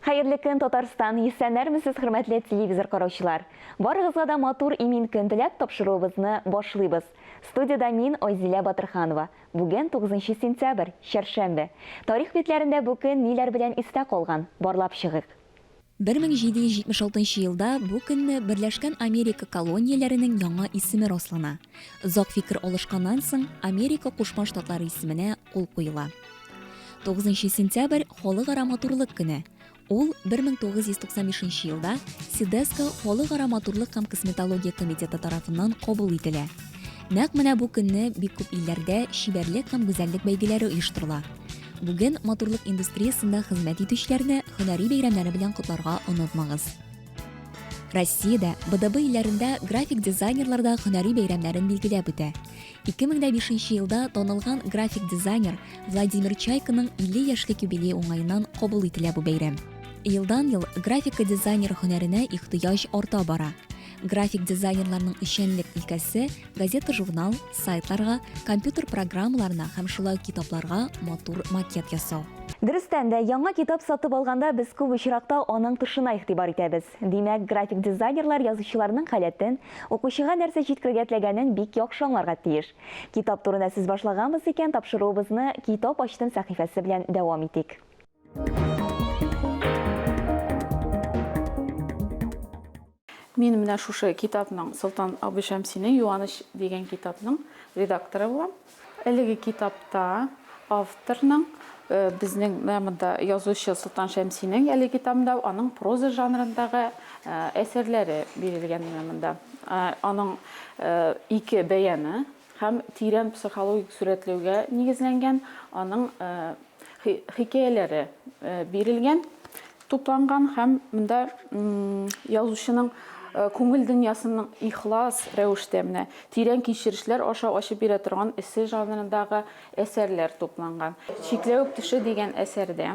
Хәерле көн, Татарстан! Исәннәрмесез, хөрмәтле телевизор караучылар! Барыгызга да матур имин көн теләп тапшыруыбызны башлыйбыз. Студиядә мин, Айзилә Батырханова. Бүген 9 сентябрь, чәршәмбе. Тарих битләрендә бу көн ниләр белән истә калган, барлап чыгыйк. 1776 елда бу көнне Берләшкән Америка колонияләренең яңа исеме раслана. Озак фикер алышканнан соң, Америка Кушма Штатлары исеменә кул куела. 9 сентябрь Халыкара матурлык көне. Ул 1995 елда СИДЕСКО Халыкара матурлык һәм косметология комитеты тарафыннан кабул ителә. Нәкъ менә бу көнне бик күп илләрдә чибәрлек һәм гүзәллек бәйгеләре оештырыла. Бүген матурлык индустриясендә хезмәт итүчеләрне һөнәри бәйрәмнәре белән котларга онытмагыз. Россиядә, БДБ илләрендә график дизайнерлар да һөнәри бәйрәмнәрен билгеләп үтә. 2005 елда танылган график дизайнер Владимир Чайканың 50 яшьлек юбилее уңаеннан кабул ителә бу бәйрәм. Елдан-ел графика дизайнер һөнәренә ихтыяҗ арта бара. График дизайнерларның эшчәнлек өлкәсе газета-журнал, сайтларга, компьютер программаларына һәм шулай ук китапларга матур макет ясау. Дөрестән дә, яңа китап сатып алганда без күп очракта аның тышына игътибар итәбез. Димәк, график дизайнерлар язучыларның халәтен, укучыга нәрсә җиткерергә теләгәнен бик яхшы аңларга тиеш. Китап турында сүз башлаганбыз икән, тапшыруыбызны Китап ачтым сәхифәсе белән дәвам итик. Мин менә шушы китапның, Солтан абый Шәмсинең Юаныч дигән китапның редакторы булам. Әлеге китапта авторның, безнең менә монда язучы Солтан Шәмсинең әлеге китабында аның проза жанрындагы әсәрләре бирелгән менә монда. Аның ике бәяны һәм тирән психологик сурәтләүгә нигезләнгән аның хикәяләре бирелгән. тупланган һәм монда язучының күңел дөньясының ихлас рәвештә менә тирән кичерешләр аша ачып бирә торган эссе жанрындагы әсәрләр тупланган. Чикләвек төше дигән әсәрдә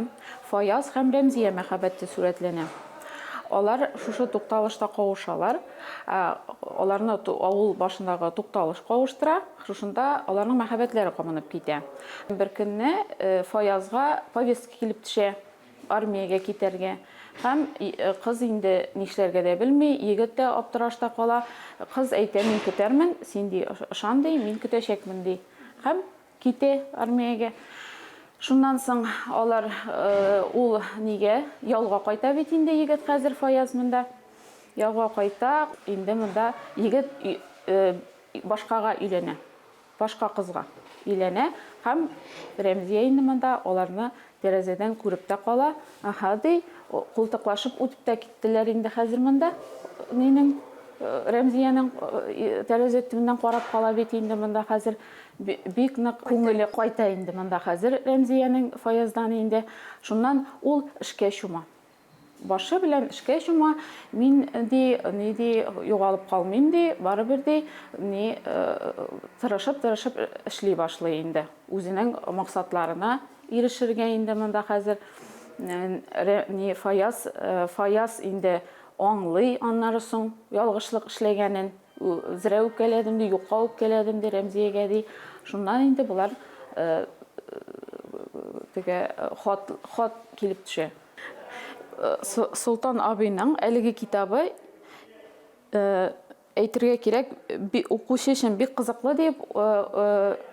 Фаяз һәм Рәмзия мәхәббәте сурәтләнә. Алар шушы тукталышта кавышалар. Аларны авыл башындагы тукталыш кавыштыра. Шушында аларның мәхәббәтләре кабынып китә. Беркөнне Фаязга повестка килеп төшә. армиягә китәргә һәм кыз инде нишләргә дә белми, егет тә аптырашта кала, кыз әйтә, мин көтәрмен, син ди, ышан ди, мин көтәчәкмен ди һәм китә армиягә. Шуннан соң алар ул нигә ялга кайта бит инде егет хәзер Фаяз монда ялга кайта, инде монда егет башкага өйләнә. Башка кызга өйләнә һәм Рәмзия инде монда аларны тәрәзәдән күреп тә кала, Аһа, ди, култыклашып үтеп тә киттеләр инде хәзер монда минем Рәмзиянең тәрәзә төбеннән карап кала бит инде монда хәзер бик нык күңеле кайта инде монда хәзер Рәмзиянең Фаяздан инде. Шуннан ул эшкә чума. Башы белән эшкә чума, мин, ди, ни ди, югалып калмыйм, ди, барыбер, ди, ни, тырышып-тырышып эшли башлый инде. Үзенең максатларына ирешергә инде монда хәзер, ни, Фаяз, Фаяз инде аңлый аннары соң ялгышлык эшләгәнен. Зрә үпкәләдем, ди, юкка үпкәләдем, ди, Рәмзиягә, ди. Шуннан инде болар теге хат, хат килеп төшә. Солтан абыйның әлеге китабы, әйтергә кирәк, укучы өчен бик кызыклы дип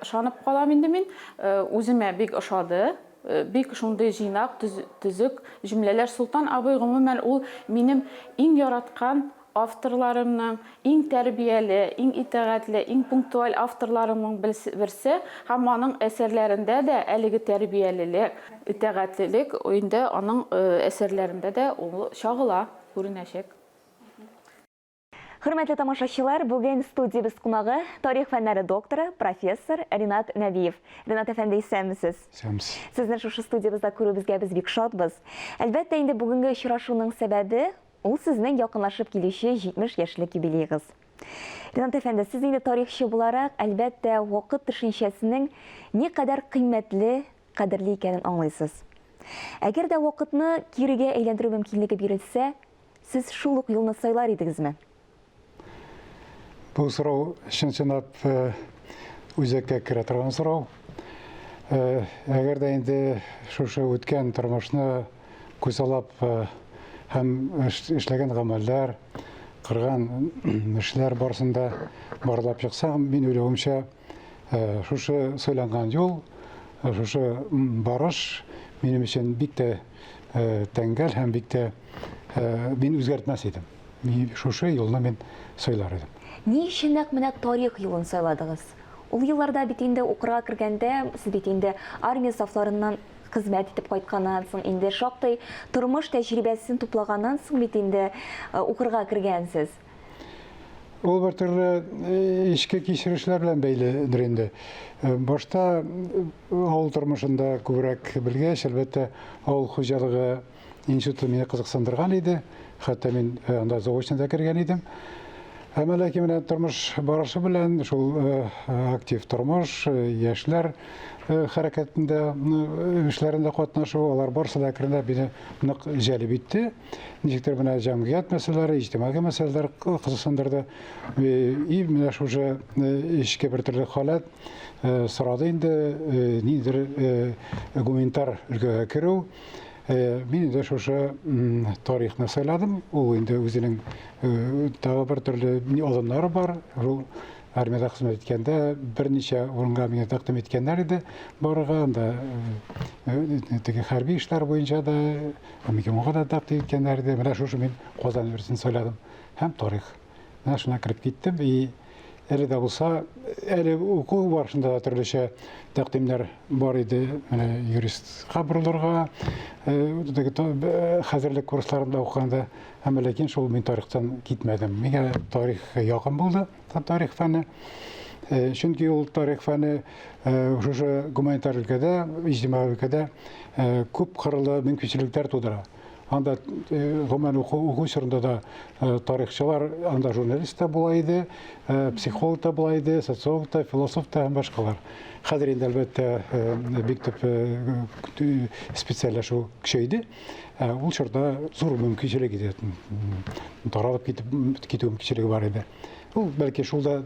ышанып калам инде мин. Үземә бик ошады. Бик шундый җыйнак, төзек җөмләләр. Солтан абый, гомумән, ул минем иң яраткан Авторларымның иң тәрбияле, иң итагатьле, иң пунктуаль авторларымның берсе һәм аның әсәрләрендә дә әлеге тәрбиялелек, итагатьлелек инде аның әсәрләрендә дә ул чагыла, күренәчәк. Хөрмәтле тамашачылар, бүген студиябез кунагы, тарих фәннәре докторы, профессор Ринат Нәбиев. Ринат әфәнде, исәнмесез! Исәнмесез! Сезне шушы студиябызда күрүебезгә без бик шатбыз. Әлбәттә, инде бүгенге очрашуның сәбәбе, Ул сезнең якынлашып килүче 70 яшьлек юбилеегыз. Ринат әфәнде, сез инде тарихчы буларак, әлбәттә, вакыт төшенчәсенең никадәр кыйммәтле, кадерле икәнен аңлыйсыз. Әгәр дә вакытны кирегә әйләндерү мөмкинлеге бирелсә, сез шул ук юлны сайлар идегезме? Бу сорау чын-чынлап үзәккә керә торган сорау. Әгәр дә инде шушы үткән тормышны күзаллап һәм эшләгән гамәлләр, кырган эшләр барсында барлап чыкса, мин уйлавымча, шушы сайланган юл, шушы барыш минем өчен бик тә тәңгәл һәм бик тә мин үзгәртмәс идем. Мин шушы юлны мин сайлар идем. Ни өчен нәкъ менә тарих юлын сайладыгыз? Ул елларда бит инде укырга кергәндә, сез бит инде армия сафларыннан хезмәт итеп кайтканнан соң, инде шактый тормыш тәҗрибәсен туплаганнан соң бит инде укырга кергәнсез. Ул бер төрле эчке кичерешләр белән бәйледер инде. Башта авыл тормышында күбрәк белгәч, әлбәттә, авыл хуҗалыгы Институт мине кызыксындырган иде, хәтта мин э, анда заочно да кергән идем. Әмма ләкин менә тормыш барышы белән шул э, э, актив тормыш, яшьләр хәрәкәтендә, эшләрендә катнашу, алар барысы да әкренләп мине нык җәлеп итте. Ничектер менә җәмгыять мәсьәләләре, иҗтимагый мәсьәләләр кызыксындырды. И менә шушы эчке бер төрле халәт сорады инде ниндидер гуманитар өлкәгә керү. Э, мин инде шушы тарихны сайладым ул инде үзенең э, тагы бер төрле алымнары бар ул армияда хезмәт иткәндә берничә урынга миңа тәкъдим иткәннәр иде барырга анда э, теге хәрби эшләр буенча да мгмга да тәкъдим иткәннәр иде менә шушы мин казан университетын сайладым һәм тарих Менә шуннан кереп киттем. И әле дә булса, әле уку барышында да төрлечә тәкъдимнәр бар иде. Менә юристка борылырга, хәзерлек курсларында укыганда, әмма ләкин шул мин тарихтан китмәдем. Миңа тарих якын булды, тарих фәне. Чөнки ул тарих фәне шушы гуманитар өлкәдә, иҗтимагый өлкәдә күп кырлы мөмкинчелекләр тудыра. Анда гомумән уку чорында да тарихчылар, анда журналист та була иде, психолог та була иде, социолог та, философ та һәм башкалар. Хәзер инде әлбәттә бик төп специальләшү көчәйде. Ул чорда зур мөмкинчелек иде. Таралып китү мөмкинчелеге бар иде. Ул бәлки шул да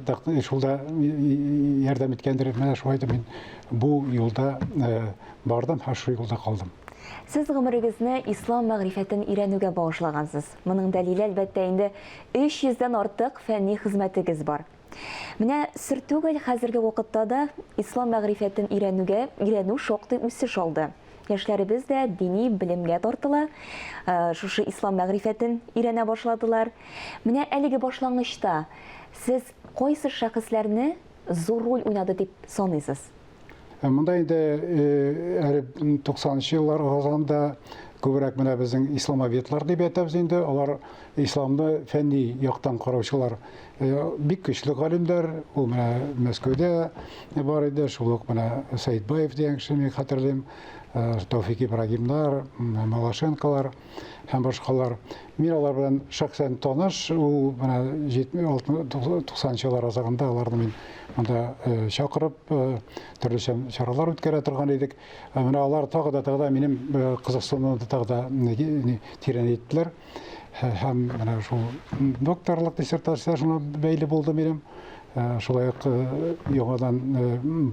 шул да ярдәм иткәндер. Менә шулай да мин бу юлда э, бардым һәм шул юлда калдым. Сез гомерегезне ислам мәгърифәтен өйрәнүгә багышлагансыз. Моның дәлиле әлбәттә инде 300 дән артык фәнни хезмәтегез бар. Менә сер түгел, хәзерге вакытта да ислам мәгърифәтен өйрәнүгә өйрәнү шактый үсеш алды. Яшьләребез дә дини белемгә тартыла, шушы ислам мәгърифәтен өйрәнә башладылар. Менә әлеге башлангычта сез кайсы шәхесләрне зур роль уйнады дип саныйсыз? Э, монда инде әле э, туксанынчы еллар аралыгында күбрәк менә безнең исламоведлар дип әйтәбез инде алар исламны фәнни яктан караучылар Бик көчле галимнәр, ул менә Мәскәүдә бар иде, шул ук менә Сәйдбаев дигән кеше, мин хәтерлим, Тауфик Ибрагимнар, Малашенкалар һәм башкалар. Мин алар белән шәхсән таныш, ул менә 90 еллар азагында аларны мин монда чакырып, төрлечә чаралар үткәрә торган идек. Менә алар тагы да тагы да минем кызыксынуымны тагы да тирәнәйттеләр. һәм менә шул докторлык диссертациясенә бәйле булды минем. Э, шулай ук э, яңадан э,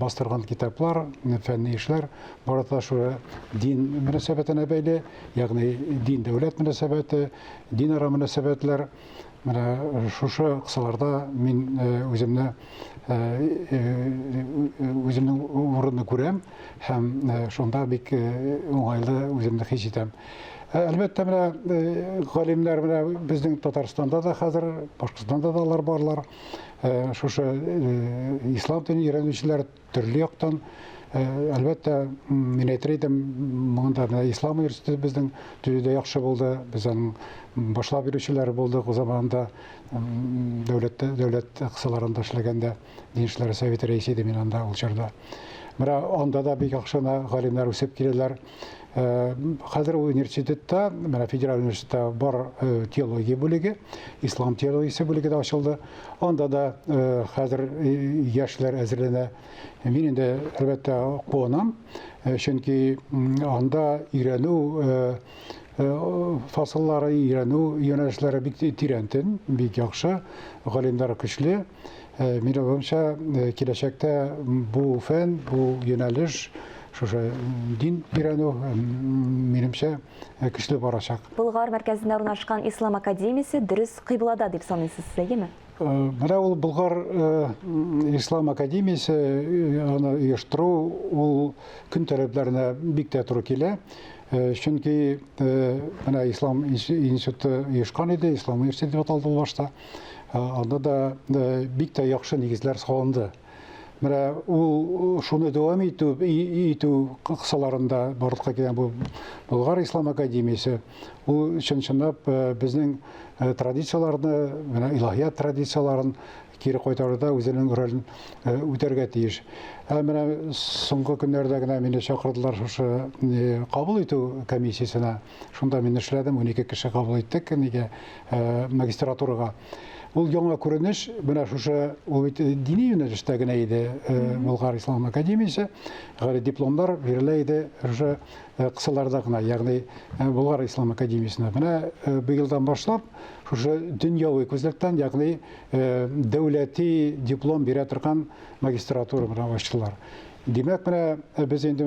бастырган китаплар фәнни эшләр барата шура дин мөнәсәбәтенә бәйле ягъни дин дәүләт мөнәсәбәте динара мөнәсәбәтләр менә шушы кысаларда мин үземне үземнең урынны күрәм һәм шунда бик уңайлы үземне хис итәм Ә, әлбәттә, менә э, галимнәр менә безнең Татарстанда да хәзер, Башкортстанда да алар барлар. Э, шушы э, ислам динен өйрәнүчеләр төрле яктан әлбәттә мин әйтер идем монда менә ислам университеты безнең төзүдә яхшы булды без аның башлап йөрүчеләре булдык заманында дәүләттә дәүләт кысаларында эшләгәндә Дин эшләре советы рәисе идем мин анда ул чорда. Менә анда да бик яхшы галимнәр үсеп киләләр. Э, хәзер университетта, менә федераль университетта бар э, теология бүлеге, ислам теологиясе бүлеге дә ачылды. Анда да э, хәзер яшьләр әзерләнә. Мин инде, әлбәттә, куанам, чөнки анда өйрәнү фасыллары, өйрәнү юнәлешләре бик тирәнтен, бик яхшы, галимнәр көчле. Мин уйлавымча, киләчәктә бу фән, бу юнәлеш шушы дин өйрәнү минемчә көчле барачак. Болгар мәркәзендә урнашкан Ислам академиясе дөрес кыйблада дип саныйсыз, әйеме? Менә ул Болгар Ислам академиясе аны оештыру ул көн таләпләренә бик тә туры килә. Чөнки менә Ислам институты оешкан иде, Ислам университеты дип аталды ул башта. Анда да бик тә яхшы нигезләр салынды. Менә ул шуны дәвам итү итү кысаларында барлыкка килгән бу Болгар ислам академиясе ул чын-чынлап безнең традицияләрне, менә илаһият традицияләрен кире кайтаруда үзенең ролен э, үтәргә тиеш. Ә менә соңгы көннәрдә генә мине чакырдылар шушы э, кабул итү комиссиясенә. Шунда мин эшләдем, унике кеше кабул иттек нигә, магистратурага. Ул яңа күренеш, менә шушы, ул бит дини юнәлештә генә иде, Болгар ислам академиясе, гали дипломнар бирелә иде шушы кысаларда гына, ягъни Болгар ислам академиясенә. Менә быелдан башлап, шушы дөньяви күзлектән, ягъни дәүләти диплом бирә торган магистратура менә ачтылар. Димәк, менә без инде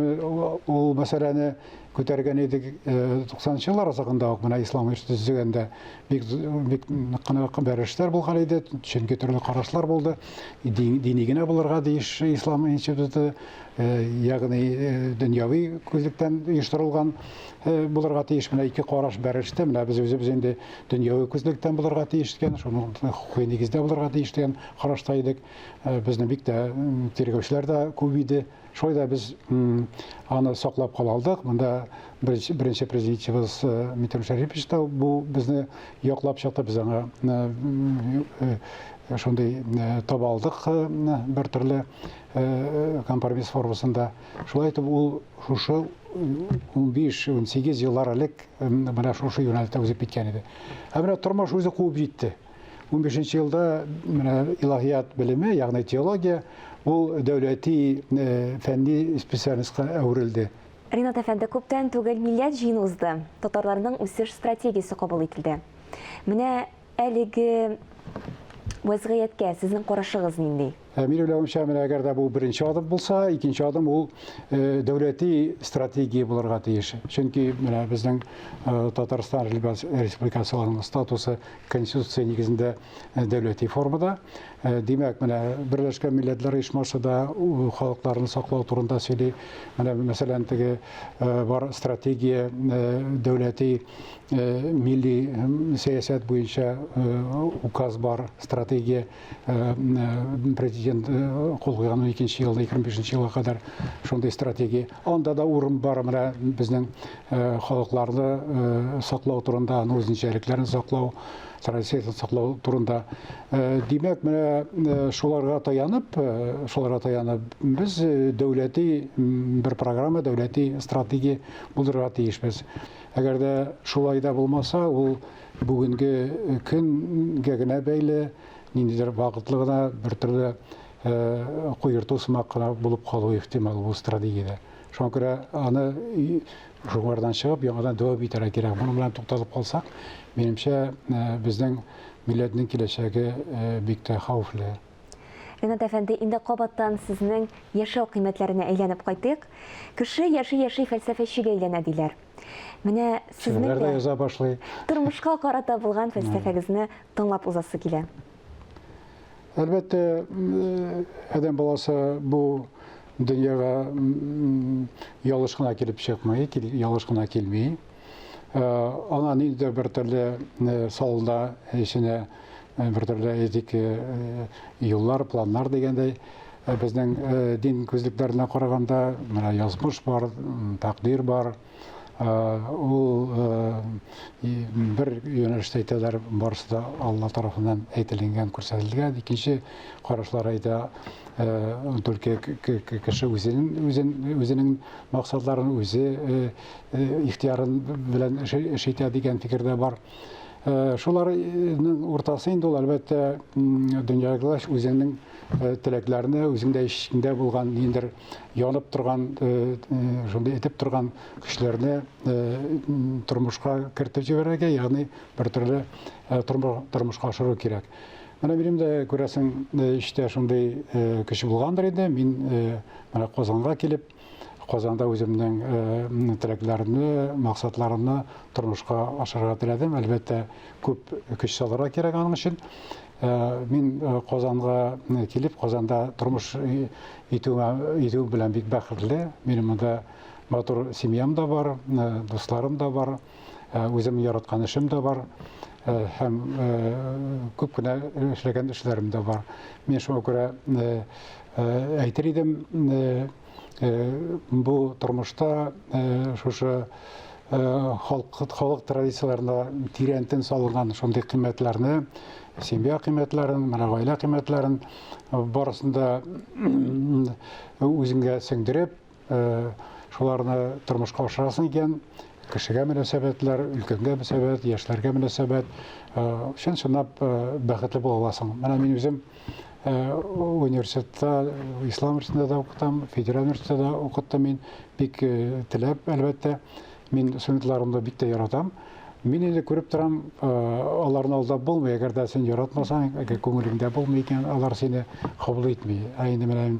ул мәсьәләне күтәргән идек. 90 нчы еллар азагында ук менә ислам оешты төзегәндә бик бик кына бәрелешләр булган иде, чөнки төрле карашлар булды. Дини генә булырга тиеш ислам институты, ягъни дөньяви күзлектән оештырылган булырга тиеш. Менә ике караш бәрелештә, менә без үзебез инде дөньяви күзлектән булырга тиеш дигән, шуның хукукый нигездә булырга тиеш дигән карашта идек. Безне бик тә тиргәүчеләр дә күп иде. Шулай да без аны саклап кала алдык. Монда беренче, беренче президентыбыз э, Митим Шәрипович та бу безне яклап чыкты. Без аңа э, э, шундый таба алдык бер төрле компромисс формасында. Шулай итеп ул шушы 15-18 еллар элек менә шушы юнәлтә узып киткән иде. Ә менә тормыш үзе куып җитте. 15 елда менә илаһият белеме, ягъни теология, ул дәүләти фәнни специальностька әверелде. Ринат әфәнде, күптән түгел милләт җыены узды, татарларның үсеш стратегиясе кабул ителде. Менә әлеге вәзгыятькә сезнең карашыгыз нинди? Ә мин уйлавымча, менә әгәр дә бу беренче адым булса, икенче адым ул дәүләти стратегия булырга тиеш. Чөнки менә безнең Татарстан Республикасының статусы Конституция нигезендә дәүләти формада. Димәк, менә Берләшкән Милләтләр Оешмасы да халыкларны саклау турында сөйли. Менә мәсәлән, теге бар стратегия дәүләти милли сәясәт буенча указ бар, стратегия президент кол куйган уникенче елда егерме бишенче елга кадәр шундый стратегия анда да урын бар менә безнең халыкларны саклау турында аның үзенчәлекләрен саклау традицияләрен саклау турында димәк менә шуларга таянып шуларга таянып без дәүләти бер программа дәүләти стратегия булдырырга тиешбез әгәр дә шулай да булмаса ул Бүгенге көнгә генә бәйле, ниндидер вакытлы гына бер төрле куерту сымак кына булып калуы ихтимал бу стратегиядә. Шуңа күрә аны шуңардан чыгып, яңадан дәвам итәргә кирәк. Моның белән тукталып калсак, минемчә, безнең милләтнең киләчәге бик тә хәвефле. Ринат әфәнде, инде кабаттан сезнең яшәү кыйммәтләренә әйләнеп кайтыйк. Кеше яши-яши фәлсәфәчегә әйләнә, диләр. Менә сезнең дә яза башлый. Тормышка карата булган фәлсәфәгезне тыңлап узасы килә. Әлбәттә, адәм баласы бу дөньяга ялгыш кына килеп чыкмый, ялгыш кына килми. Ана ниндидер бер төрле салда эченә бер төрле этик юллар, планнар дигәндәй, безнең дин күзлекләренә караганда, менә язмыш бар, тәкъдир бар, ул бер юнәлештә әйтәләр, барысы да Алла тарафыннан әйтелгән, күрсәтелгән. Икенче карашлар әйтә, только кеше үзенең үзен үзенең максатларын үзе ихтиярын белән эш итә дигән фикер дә бар. Шуларның уртасы инде ул, әлбәттә, дөньялаш үзеңнең теләкләрне, үзеңдә эчеңдә булган ниндер янып торган, шундый этеп торган көчләрне тормышка кертеп җибәрергә, ягъни бер төрле тормышка ашыру кирәк. Менә минем дә күрәсең, эчтә шундый көч булгандыр инде. Мин менә Казанга килеп, Казанда үземнең э, теләкләремне, максатларымны тормышка ашырырга теләдем. Әлбәттә, күп көч салырга кирәк аның өчен. Э, мин э, Казанга килеп, Казанда тормыш итү белән бик бәхетле. Минем монда матур семьям да бар, дусларым да бар. Ә үзем яраткан эшем дә бар һәм күп кенә эшләгән эшләрем дә бар. Мин шуңа күрә әйтер идем, бу тормышта шушы халык халык традицияләренә тирән тын салынган шундый кыйммәтләрне, семья кыйммәтләрен, менә гаилә кыйммәтләрен барысын да үзеңә сеңдереп, шуларны тормышка ашырасың икән, кешегә мөнәсәбәтләр, өлкәнгә мөнәсәбәт, яшьләргә мөнәсәбәт, чын-чынлап бәхетле була аласың. Менә мин үзем университетта, ислам университетында да укытам, федераль университетта да укыттым мин, бик теләп, әлбәттә, мин студентларымны бик тә яратам. Мин инде күреп торам, аларны алдап булмый, әгәр дә син яратмасаң, әгәр күңелеңдә булмый икән, алар сине кабул итми. Ә инде менә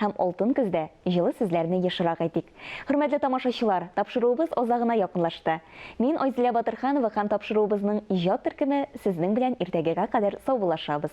Һәм алтын көздә җылы сүзләрне ешрак әйтик. Хөрмәтле тамашачылар, тапшыруыбыз азагына якынлашты. Мин Айзилә Батырханова һәм тапшыруыбызның иҗат төркеме сезнең белән иртәгегә кадәр саубуллашабыз.